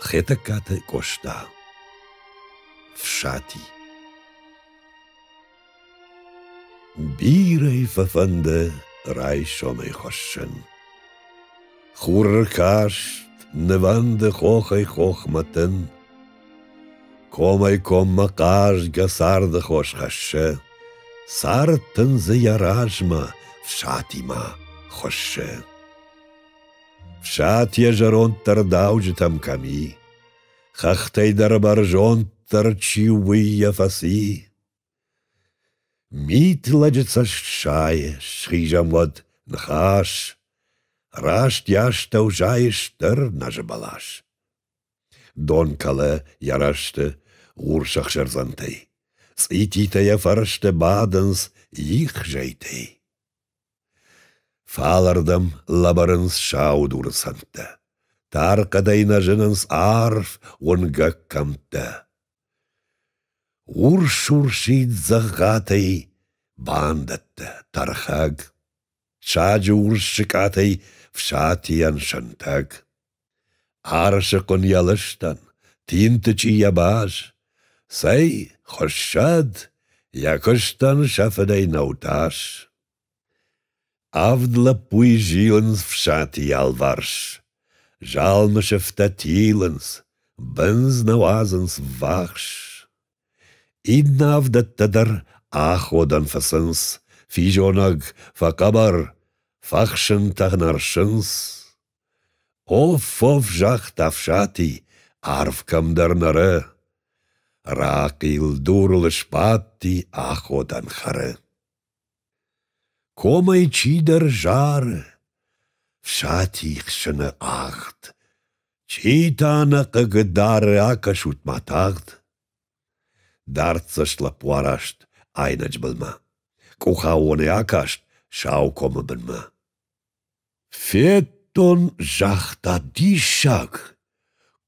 Хетӕгкаты Къоста Фсати Бирӕ фӕфӕнды райсомӕй хуыссын. Хур каст, нывӕнды хохӕй-хохмӕ тын. Комӕй-коммӕ хъазгӕ царды хос хӕссы, Цард тын дзы йӕ размӕ, фсатимӕ хуыссы. Сӕт йӕ зӕронддӕр дауджытӕм кӕм и, хӕхтӕй дӕр бӕрзонддӕр чи у, уый йӕ фӕци. Мит лӕджы цӕст сайы, схизӕм уӕд ныхас, Раст йӕ астӕу зайы стыр нӕзы бӕлас. Дон кӕлы йӕ рӕзты урс ӕхсӕрдзӕнтӕй, цъититӕ йӕ фӕрсты бадынц их зӕйтӕй. Фалырдӕм лӕбӕрынц саудуры сӕнттӕ. Тар хъӕдӕй нӕ зынынц арф уынгӕг кӕмттӕ. Урс-урсид дзӕгъатӕй бандӕттӕ, тӕрхӕг. Саджы урс сыкъатӕй фсатийӕн сӕнтӕг. Арсыхъуын йӕ лыстӕн, тинты чи йӕ баз. Цӕй, хуыссӕд, йӕ куыстӕн сӕ фыдӕй нӕу тас. Авд лӕппуй зилынц фсати ялварс. Залмы сыфтӕ тилынц, бындз нӕ уадзынц ввахс. Иннӕ авдӕттӕ дӕр аходӕн фӕцынц, физонӕг, фӕхъӕбӕр, фӕхсынтӕ нӕрсынц. Оф-оф, загъта Ӕфсати, арв кӕмдӕр нӕры. Рахъил дурыл сбадти аходӕн хӕры. Комӕй чидӕр зары, Фсати хсыны агъд. Чи та нӕ хъыг дары акӕсут-ма тагъд. Дарддзӕст лӕппу араст айнӕджы былмӕ. Къухаоны акаст Саукомы бынмӕ. Федтон, загъта диссаг.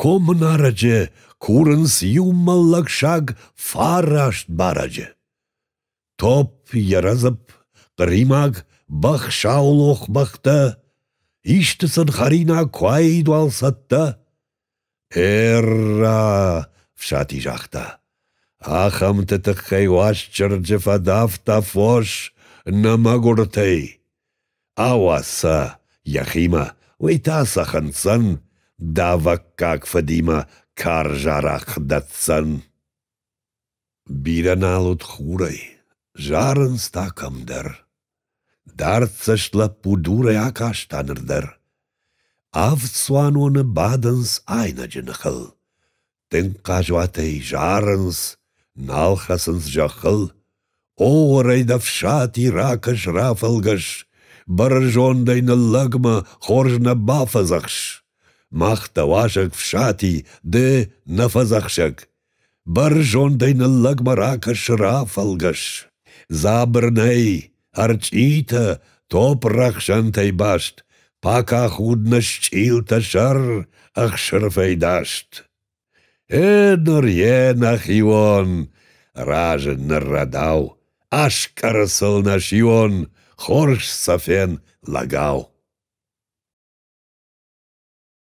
Комы нарӕджы курынц иу мӕллӕг саг фараст барӕджы. Топп, ерӕдзып, хъыримаг, бӕх саулох бӕхтӕ, исты сын хӕринаг куы аидуал цӕттӕ. Эрра! — Фсати загъта. — Ахӕмты тыххӕй Уастчырджы фӕдавта фос нӕ мӕгуыртӕй. Ауадза йӕхимӕ, уый та сӕ хынцын, давӕггаг фыдимӕ карз арахъ дӕтдзӕн. Бирӕ нал уыд хурӕй, зарынц та кӕмдӕр. Дӕрддзӕст лӕппу дурӕй акаста ныр дӕр. Авд цуаноны бадынц айнӕджы ныхыл. Тынг хъазуатӕй зарынц, нал хӕцынц зӕххыл. О, уӕрӕйд ӕфсати ракӕс, рафӕлгӕс, Бӕрзондӕй ныллӕгмӕ хорз нӕ бафӕдзӕхс. Мах дӕ уазӕг, Фсати, ды нӕ фӕдзӕхсӕг. Бӕрзондӕй ныллӕгмӕ ракӕсы рафӕлгӕс. Дзабыр нӕй, ӕрчъитӕ, топп рӕхсӕнтӕй баст, Пака худна счъилтӕ сӕр ӕхсырфӕй даст. Э ныр йе нӕхион, разы ныррӕдау, Аскъӕры сыл нӕсион, хорз сӕфен лӕгау.